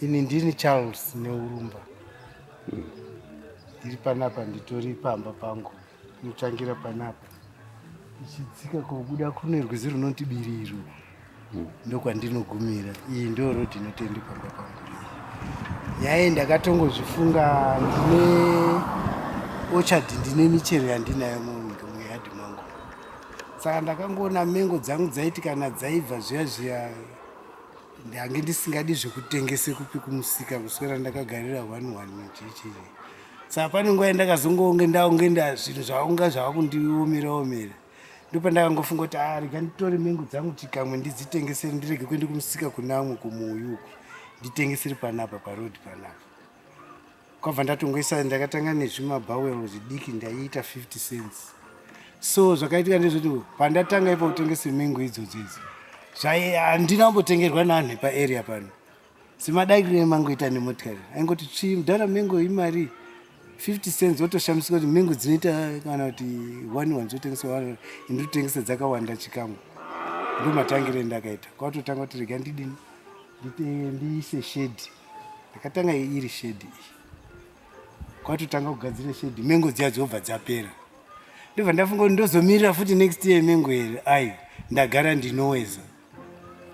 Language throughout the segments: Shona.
Ini ndini Charles Neurumba. Hmm. Ndiri panapa nditori pamba pangu. Ndinotangira panapa. Ichidzika kobuda kune rwizi runoti Biriro. Hmm. Ndokwandinogumira. Iyi ndo road inotendi pamba pangu. Yaye ndakatongozvifunga ndine orchard ndine michero yandinayo mumunda muyard mangu. Saka ndakangoona mengo dzangu dzaiti kana dzaibva zviya zviya ndange ndisingadi zvekutengese kupi kumusika kuswera ndakagarira one one machechee saka pane nguva yandakazongonge ndaunge nda zvinhu zvaunga zvava kundiomera omera ndopandakangofunga kuti a ah, rega nditore mengu dzangu chikamwe ndidzitengesere ndirege kuende kumusika kunamwe kumuuyuku nditengesere panapa paroad panapa kwabva ndatongoisa ndakatanga nezvimabhawel zvidiki ndaiita 50 cents so zvakaitika ndezvoti pandatanga ipa kutengesa mengo idzodzo idzi handina kumbotengerwa nanhu paarea pano semadakiro emangoita nemotikari aingoti tsvii mudhara mengo imari 50 cents wotoshamisika kuti mengo dzinoita kana kuti one one dzotengesa one inditotengesa dzakawanda chikamwe ndomatangire ndakaita kwatotanga kuti rega ndidini ndiise shedi Ndakatanga iri shedi iyi. Kwatotanga kugadzira shedi mengo dziya dzobva dzapera. Ndobva ndafunga kuti ndozomirira futi next year mengo here. Ayi ndagara ndinoweza.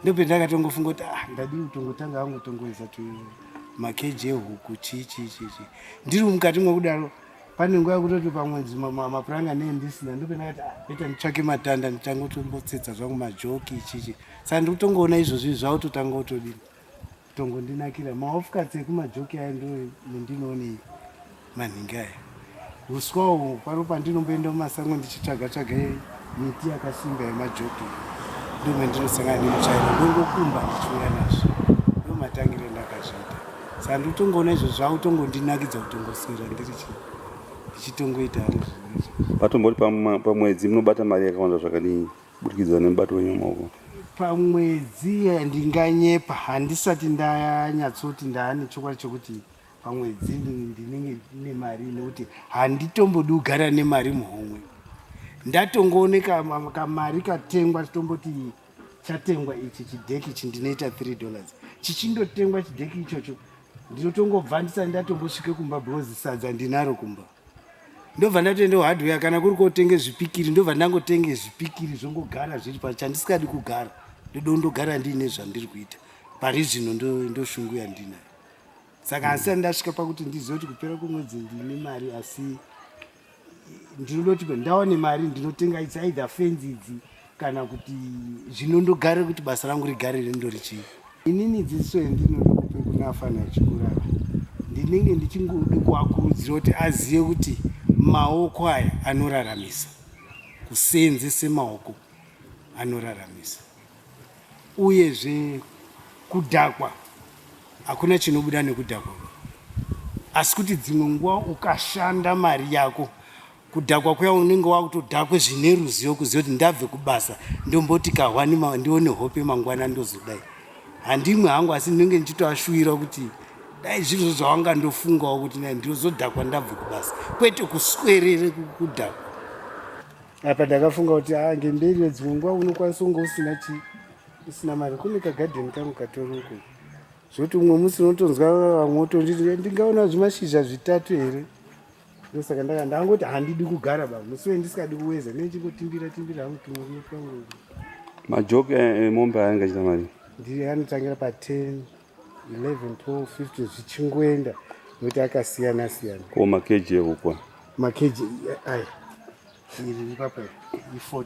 Ndope ndakatongofunga kuti ah ndadii kutongotanga hangu kutongoweza tu makeji ehuku chii chii chii chii. Ndiri mukati mwekudaro pane nguva yekutoti pamwe mapuranga nei ndisina ndopendakati ah, ita nditsvake matanda nditanga kutombotsetsa zvangu majoki ichichi saka ndikutongoona izvozvi zvakutotanga kutodini tongondinakira maofukadzi ekumajoki aya ndo mundinoone manhingi aya uswa uhu pano pandinomboenda mumasango ndichitsvaga tsvaga miti yakasimba yemajoki ndo mandinosangana nemuchaina ndongokumba ndichiuya nazvo ndo matangire ndakazviita saa ndotongoona izvo zvavo tongondinakidza kutongoswera ndiri chi ndichitongoita hangu zvinoizvo patomboti pamwedzi munobata mari yakawanda zvakadii kuburikidza nemubato wenyu wemaoko pamwedzi ndinganyepa handisati ndanyatsoti ndaane chokwadi chokuti pamwedzi ndinenge ndine mari nekuti handitombodi kugara nemari muhomwe ndatongooneka kamari katengwa tomboti chatengwa ichi chidheki ichi ndinoita three dollars chichindotengwa chidheki ichocho ndinotongobva ndisati ndatombosvike kumba because sadza ndinaro kumba ndobva ndatoenda hardware kana kuri kotenge zvipikiri ndobva ndangotenge zvipikiri zvongogara zviri pa chandisikadi kugara ndodo ndogara ndiine zvandiri kuita pari zvino ndoshungu ndo yandinayo saka asi ani ndasvika pakuti ndizive kuti kupera kwemwedzi ndine mari asi ndinodoti ndaone mari ndinotenga idzi aidha fenzi idzi kana kuti zvinondogare kuti basa rangu rigare rindori chii inini dziso yandinoda kupe kune afana achikurara ndinenge ndichingode kuakurudzira kuti azive kuti maoko aya anoraramisa kuseenzese maoko anoraramisa uyezve kudhakwa hakuna chinobuda nekudhakwa asi kuti dzimwe nguva ukashanda mari yako kudhakwa kuya unenge wakutodhakwe zvine ruzivo kuziva kuti ndabve kubasa ndomboti kahwani ndione hope mangwana ndozodai handimwe hangu asi ndinenge ndichitoashuvira kuti dai zvirizvo zvawanga ndofungawo kuti nai ndozodhakwa ndabve kubasa kwete kuswerere kudhakwa apa ndakafunga kuti a ah, ngemberi yedzimwe nguva unokwanisa unge usina chi usina mari kune kagadheni kangu katoroko zvoti umwe musi unotonzwa vamwe otonditi ndingaona zvimashizha zvitatu here ndosaka ndaka ndangoti handidi kugara ba musiwe ndisikadi kuweza ne ndichingotimbira timbira hangu tumwe kuno twangu majoke eh, eh, mombe aya angachita mari ndiye anotangira pa 10 11 12 15 zvichingoenda nokuti akasiyana siyana ko makeji ehukwa makeji eh, aya iri ipapa i 40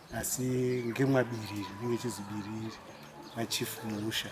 asi ngemwabiriri inenge chizibiriri nachief muusha